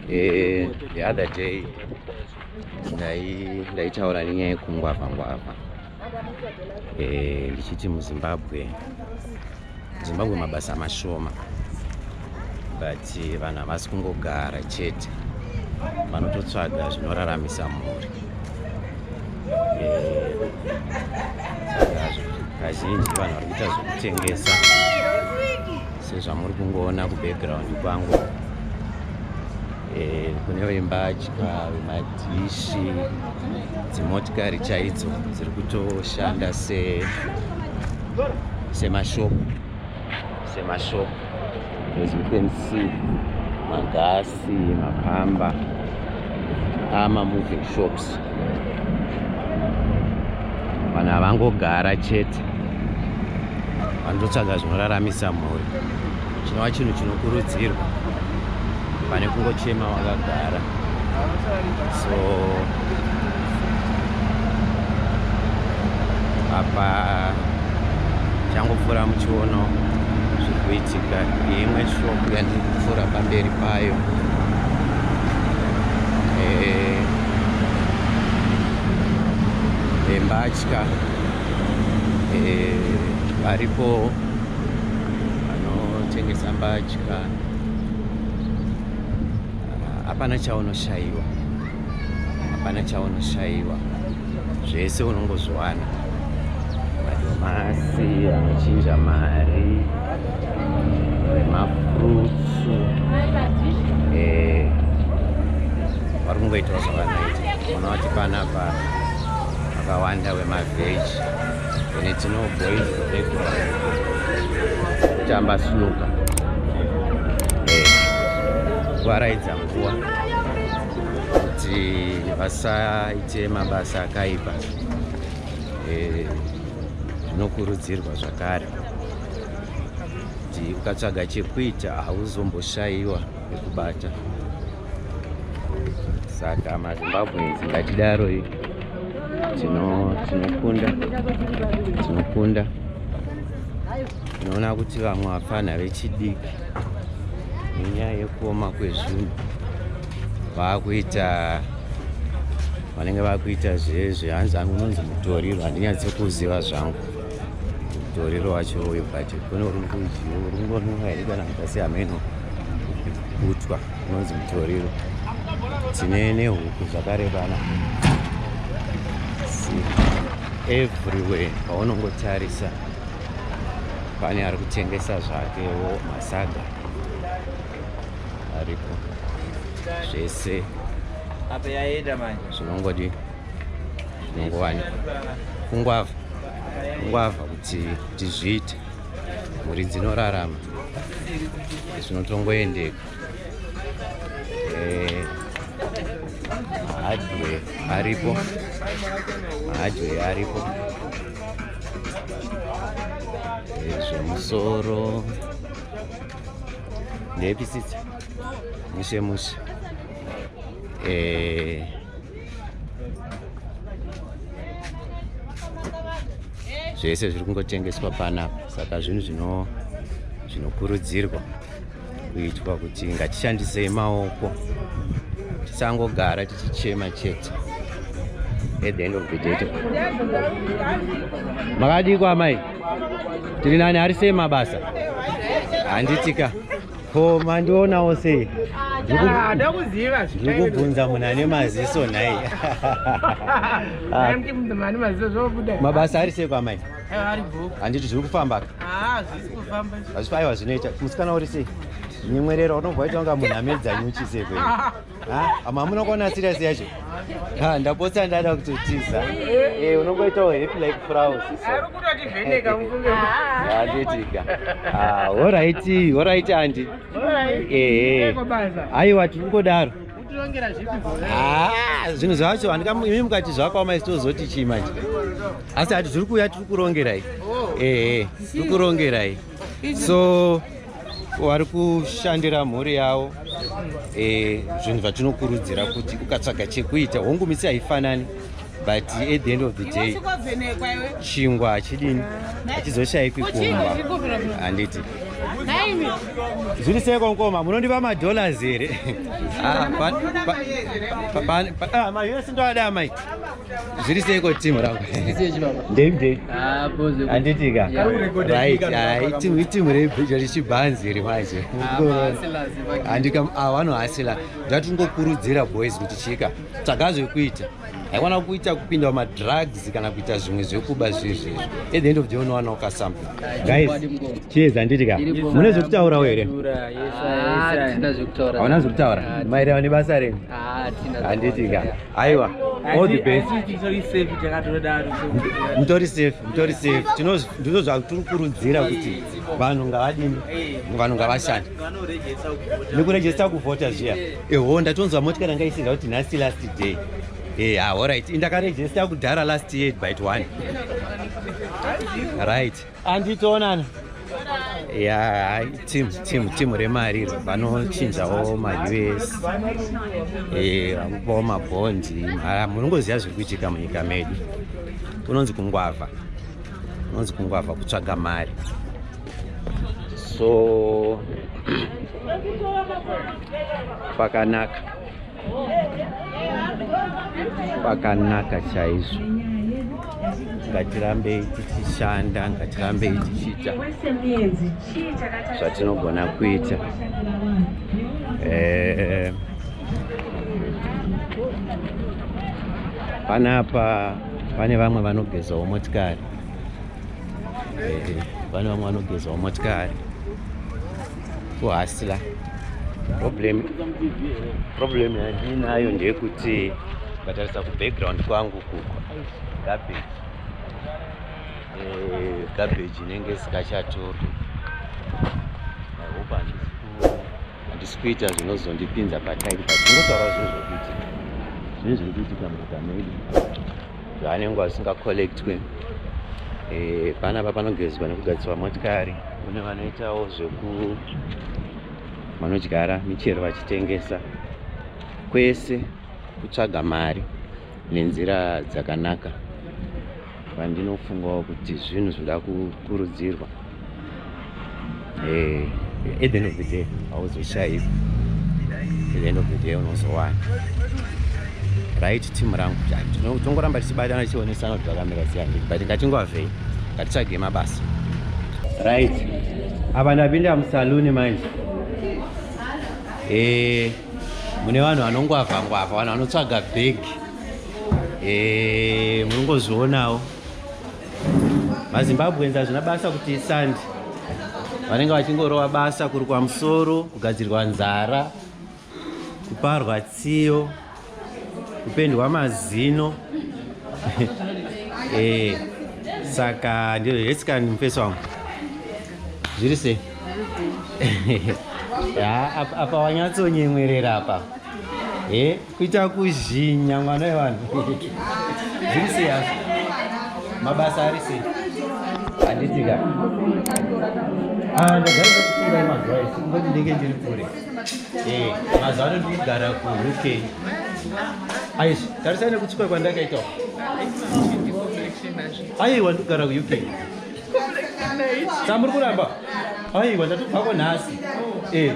Eh, the other day ndaitaura nenyaya yekungwavha ngwavha eh, ndichiti muzimbabwe muzimbabwe mabasa mashoma but eh, vanhu havasi kungogara chete vanototsvaga zvinoraramisa mhuri eh, kazhinji vanhu vari kuita zvekutengesa sezvamuri kungoona kubackground kwangu eh, kune vembatya vemadhishi dzimotikari chaidzo dziri kutoshanda semashopu se semashop as you can see magasi mapamba ama moving shops vanhu havangogara chete vanototsvaga zvinoraramisa mhuri chinova chinhu chinokurudzirwa pane kungochema wakagara so apa changopfuura muchiono zviri kuitika imwe shop yandiri kupfuura pamberi payo embatya eh, eh, eh, varipo vanotengesa mbatya hapana chaunoshaiwa hapana chaunoshaiwa zvese unongozviwana madomasi anochinja mari nemafrutsu eh, vari kungoitawo zvavanoita unoona kuti panapa vakawanda wemaveji and it's no boys kutamba snuka kuvaraidza eh, nguva kuti vasaite mabasa akaipa eh, zvinokurudzirwa zvakare kuti ukatsvaga chekuita hauzomboshayiwa ekubata saka mazimbabwe ngatidaro tinokunda tinokunda tinoona kuti vamwe vapfanha vechidiki nenyaya yekuoma kwezvinhu vakuita vanenge vakuita zvezve hanzi anononzi mutoriro handinyatsi kuziva zvangu toriro wacho uyu but kune uri kudyi uri kungonwa here kana kasi hameno kutwa unonzi mutoriro tine nehuku zvakarebana everywhere paunongotarisa pane ari kutengesa zvakewo masaga aripo zvese zvinongodi nongowani kungwavha kungwavha kuti kuti zviite mhuri dzinorarama zvinotongoendeka eh, mahadwe aripo mahadwe aripo eh, zvemusoro ndepisitsa mushe mushe eh, zvese zviri kungotengeswa panapa saka zvinhu zvino zvinokurudzirwa kuitwa kuti ngatishandisei maoko tisangogara tichichema chete at the end of the day makadii kwamai tiri nani ari sei mabasa handitika ko mandionawo sei ah, ndikubvunza munhu ane maziso nhai mabasa ari sei kwamai eh, handiti zviri kufambaka ah, hazvifaiwa zvinoita musikana uri sei nyemwerero unobva waita kunga munhu amedza nyuchi sei kwenyu Hama hamuna kuona serious yacho. Ha ndapotsa ndada kutotiza. Eh unongoitawo happy like flowers. Ari kutoti vheneka mfunge. Ah ndetika. Ah all right, all right auntie. All right. Eh. Aiwa tiri kungodaro. Ah, zvinhu zvacho handikaimi mukati zvakaoma isi tozoti chii manje asi hati zviri kuuya tiri kurongerai oh. ehe eh, tiri kurongerai so vari kushandira mhuri yavo eh, zvinhu zvatinokurudzira kuti ukatsvaga chekuita hongu misi haifanani but at the end of the day chingwa hachidini hachizoshayikwi kumba handiti zviri seko mkoma munondipa madollars here ah, ah, ah, amai yese ndoada amai zviri seiko team rangu ndei anditika iteam rechibhanzi iri manje andika vanohasila ndatingokurudzira boys kuti chika tsvaga zvekuita haikwana kuita kupinda madrugs kana kuita zvimwe zvekuba zviizvi at the end of the unowana uka something guys cheers anditika mune zvekutaurawo here hauna zvekutaura maererano nebasa renyu anditika aiwa all the best mutori safe mutori safe ndizvo zvatiri kurudzira kuti vanhu ngavadini vanhu ngavashande nekurejesta kuvhota zviya eho ndatonzwa motya ranga isinga kuti nhasi last day e ah, allright indakarejesta kudhara last year byt one right Andi tonana. Yeah, team team team remari vanochinjawo ma US. Eh, vakupawo ma bond. Mara munongoziva zviri kuitika munyika medu. Kunonzi kungwava. Kunonzi kungwava kutsvaga mari. So pakanaka. pakanaka chaizvo ngatirambei tichishanda ngatirambei tichiita zvatinogona kuita eh, panapa pane vamwe vanogezawo motikari eh, pane vamwe vanogezawo motikari kuhasila problem problem yandinayo ndeyekuti ndatarisa kubackground kwangu kuko garbage eh, garbage inenge isikachatoki i hope handisi handisi kuita zvinozondipinza patairi but ndinotaura zvinhu zvekuitika zvinhu zviri kuitika munyika medu zvaanenge asinga collectwe eh, panapa panogezwa nekugadziswa motikari kune vanoitawo zveku vanodyara michero vachitengesa kwese kutsvaga mari nenzira dzakanaka vandinofungawo kuti zvinhu zvinoda kukurudzirwa Eh, at the end of the day hauzoshaivi at the end of the day unozowana right team rangu tongoramba tichibatana tichionesana kuti zvakamira sei handiti but ngatingovavei ngatitsvage mabasa right apa ndapinda musaluni manje eh, mune vanhu vanongwavha ngwavha vanhu vanotsvaga bhegi eh, munongozvionawo mazimbabweans hazvina basa kuti sand vanenge vachingorova basa kuri kwamusoro kugadzirwa nzara kuparwa tsiyo kupendwa mazino eh, saka ndiro hetscan mufesi wangu zviri sei apa wanyatsonyemwerera apa eh? kuita kuzhinya mwana wevanhu zviri sei hazvo mabasa ari sei handitika ah, ndagara kufunga mazuva ese ngoti ndenge ndiri kure eh, mazuva ano ndiri kugara kuuk aizvi tarisai nekutsuka kwandakaita aiwa ndikugara kuuk samuri kuramba aiwa tatobvako nhasi eh,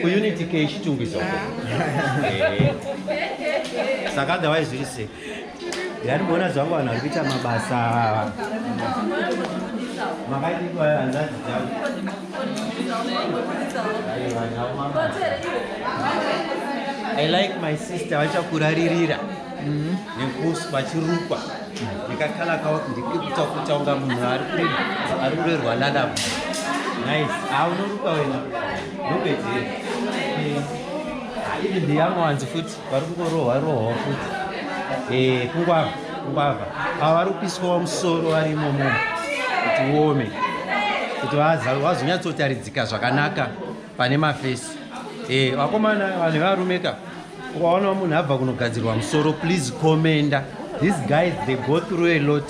kuunity ke chitungwiza uko eh. saka otherwise zviri sei ndari kuona zvangu vanhu vari kuita mabasa makaitiwa hanzadzi dzangu I like my sister vachakuraririra mm-hmm. nekusu vachirukwa ndikakala kawa ndikuita kuita kunga munhu ari kurerwa lalabu nice ah unorukwa wena ndopedzere ivi ndiyamuwanzi futi vari kungorohwa rohwa futi eh, kungwava kungwava ava vari kupiswa musoro vari imomo kuti uome kuti vazonyatsotaridzika zvakanaka pane mafesi eh, vakomana vanhu varumeka ukaona munhu abva kunogadzirwa musoro please commenda these guys they go through a lot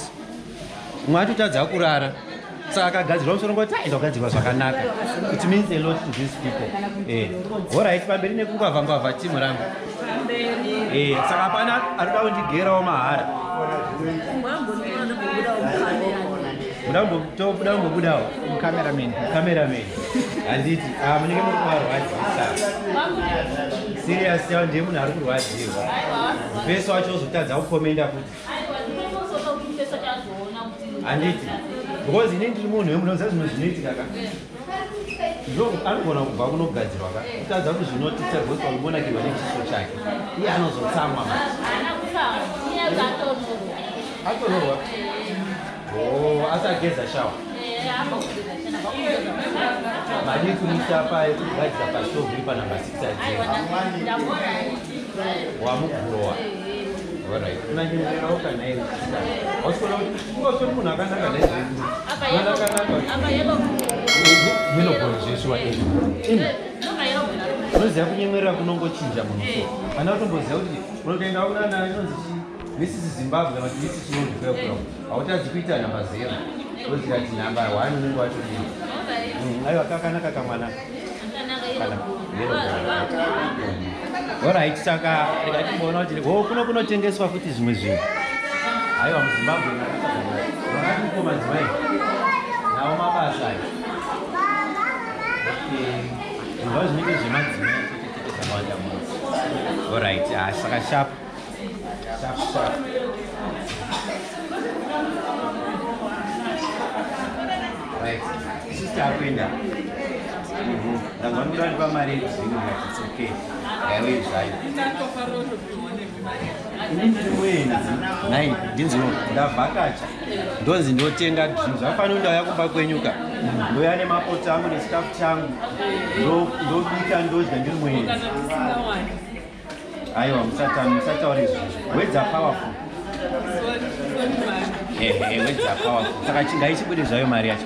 umwe atotadza kurara saka akagadzirwa musoro ngoti aenda kugadzirwa zvakanaka it means a lot to these people eh. horit pamberi nekungwavha ngwavha timu rangu eh, saka hapana anoda kundigerawo mahara ndambobudawo cameraman cameraman handiti ah, munenge muri kuvarwadzisa serious yavo ndiye munhu ari kurwadziwa mufesi wacho ozotadza kukomenda kuti handiti because ini ndiri munhu wemunoziva zvimwe zvinoitika ka Zvo anogona kubva kunogadzirwa ka kutadza kuzvinotisa because wakungonakirwa nechiso chake iye anozotsamwa atororwa oh, asi ageza shawa madii kumisa paye kugadzira pastoviri panamba 6 ajewamukurowa orit unanyengererawo kana iri ausikona kuti unoziva kunyemerera kunongochinja muno ana utomboziva kuti unotoenda kunana inonzi this is zimbabwe but this is not belgium hautadzi kuita nhamba zero oziva kuti nhamba one unenge watodii aiwa kakanaka kamwana Alright, saka rega timboona kuti ho kuno kunotengeswa futi zvimwe zvinhu. Haiwa muZimbabwe vakatiko madzimai nawo mabasa aya. Zvinhu zvinenge zvemadzimai chete chete zvakawanda muno. Alright, ah, saka sharp. takuenda ndangwanikuda ndipa mari yezvinhu vatitsoke yaiwe zvayo ini ndiri muenzi nai ndinzino ndavhakacha ndonzi ndotenga zvinhu zvafanira ndauya kumba kwenyuka ndouya nemapoti angu nechikafu changu ndobika ndodya ndiri muenzi Aiwa musatani musataura izvi. Words are powerful. Eh, eh, words are powerful. Saka chingai chibude zvayo mari yacho.